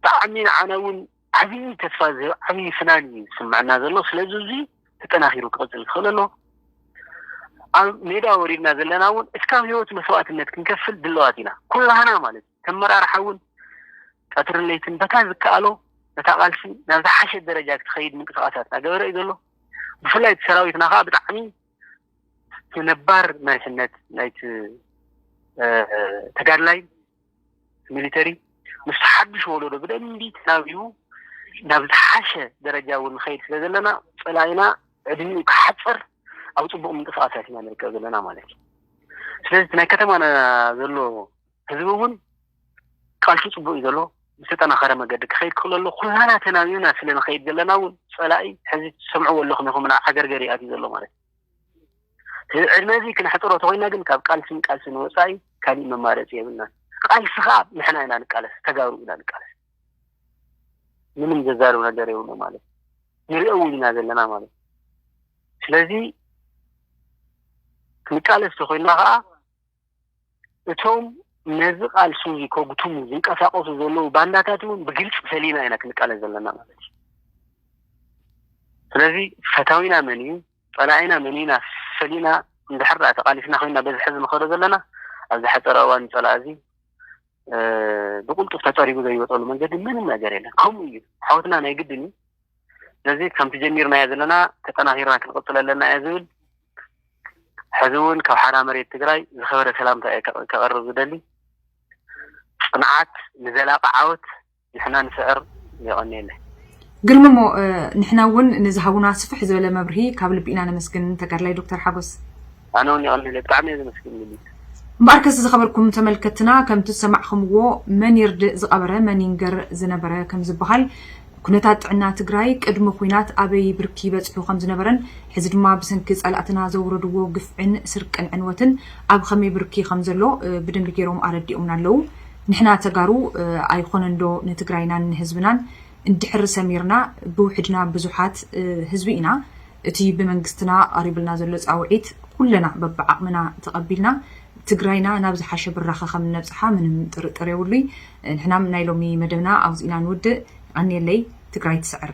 B: ብጣዕሚ ንዓና እውን ዓብዪ ተስፋ ዝህብ ዓብዪ ፍናን እዩ ዝስምዐና ዘሎ። ስለዚ እዙይ ተጠናኺሩ ክቕፅል ዝኽእል ኣሎ። ኣብ ሜዳ ወሪድና ዘለና እውን እስካብ ህይወት መስዋእትነት ክንከፍል ድለዋት ኢና ኩላህና ማለት እዩ። ተመራርሓ እውን ቀትርን ለይትን በታ ዝከኣሎ ነታ ቃልሲ ናብ ዝሓሸ ደረጃ ክትኸይድ ምንቅስቃሳት እናገበረ እዩ ዘሎ። ብፍላይ እቲ ሰራዊትና ከዓ ብጣዕሚ እቲ ነባር መሪሕነት ናይቲ ተጋድላይ ሚሊተሪ ምስ ሓዱሽ ወለዶ ብደንቢ ተናቢቡ ናብ ዝሓሸ ደረጃ እውን ንኸይድ ስለ ዘለና ፀላኢና ዕድሚኡ ክሓፅር ኣብ ፅቡቅ ምንቅስቃሳት ኢና ንርከብ ዘለና ማለት እዩ ስለዚ እቲ ናይ ከተማና ዘሎ ህዝቢ እውን ቃልሱ ፅቡቅ እዩ ዘሎ ብዝተጠናኸረ መገዲ ክኸይድ ክኽእል ኣለዎ ኩላና ተናቢብና ስለ ንኸይድ ዘለና እውን ፀላኢ ሕዚ ትሰምዕዎ ኣለኹም ኢኹም ናብ ዓገርገር እዩ ኣትዩ ዘሎ ማለት እዩ እዚ ዕድመ እዚ ክነሕፅሮ ተኮይና ግን ካብ ቃልስን ቃልስን ወፃኢ ካሊእ መማረፂ የብልና ቃልሲ ከዓ ንሕና ኢና ንቃለስ ተጋሩ ኢና ንቃለስ ምንም ዘዛርብ ነገር የብሉ ማለት ንሪኦ እውን ኢና ዘለና ማለት ስለዚ ክንቃለስ ተኮይና ከዓ እቶም ነዚ ቃልሲ እዚ ከጉትሙ ዝንቀሳቀሱ ዘለዉ ባንዳታት እውን ብግልፂ ፈሊና ኢና ክንቃለስ ዘለና ማለት እዩ ስለዚ ፈታዊና መን እዩ ፀላኢና መን እዩና ፈሊና እንድሕር ዳኣ ተቃሊስና ኮይና በዚ ሕዚ ንኸዶ ዘለና ኣብዚ ሓፀረ እዋን ፀላኢ እዚ ብቁልጡፍ ተፀሪጉ ዘይወፀሉ መንገዲ ምንም ነገር የለን ከምኡ እዩ ሓወትና ናይ ግድን እዩ ስለዚ ከምቲ ጀሚርናዮ ዘለና ተጠናኺርና ክንቕፅሎ ኣለና እየ ዝብል። ሕዚ እውን ካብ ሓራ መሬት ትግራይ ዝኸበረ ሰላምታ እየ ከቕርብ ዝደሊ። ፅንዓት ንዘላቒ ዓወት ንሕና ንስዕር። የቐንየለይ። ግርምሞ
A: ንሕና እውን ንዝሃቡና ስፍሕ ዝበለ መብርሂ ካብ ልቢ ኢና ነመስግን ተጋድላይ ዶክተር ሓጎስ። ኣነ ውን የቀንየለይ
B: ብጣዕሚ እየ ዘመስግን ሊሊት። እምበኣርከስ
A: ዝኸበርኩም ተመልከትትና ከምቲ ዝሰማዕኽምዎ መን ይርድእ ዝቐበረ መን ይንገር ዝነበረ ከምዝበሃል ኩነታት ጥዕና ትግራይ ቅድሚ ኹናት ኣበይ ብርኪ በፂሑ ከምዝነበረን ሕዚ ድማ ብሰንኪ ፀላእትና ዘውረድዎ ግፍዕን ስርቅን ዕንወትን ኣብ ኸመይ ብርኪ ከምዘሎ ብደንቢ ገይሮም ኣረዲኦምና ኣለው ንሕና ተጋሩ ኣይኾነንዶ ንትግራይናን ንህዝብናን እንድሕር ሰሚርና ብውሕድና ብዙሓት ህዝቢ ኢና። እቲ ብመንግስትና ቐሪብልና ዘሎ ፃውዒት ኩለና በብዓቕምና ተቐቢልና ትግራይና ናብ ዝሓሸ ብራኸ ከም እነብፅሓ ምንም ጥርጥር የብሉይ። ንሕናም ናይ ሎሚ መደብና ኣብዚ ኢና ንውድእ። የቐንየለይ። ትግራይ ትስዕር!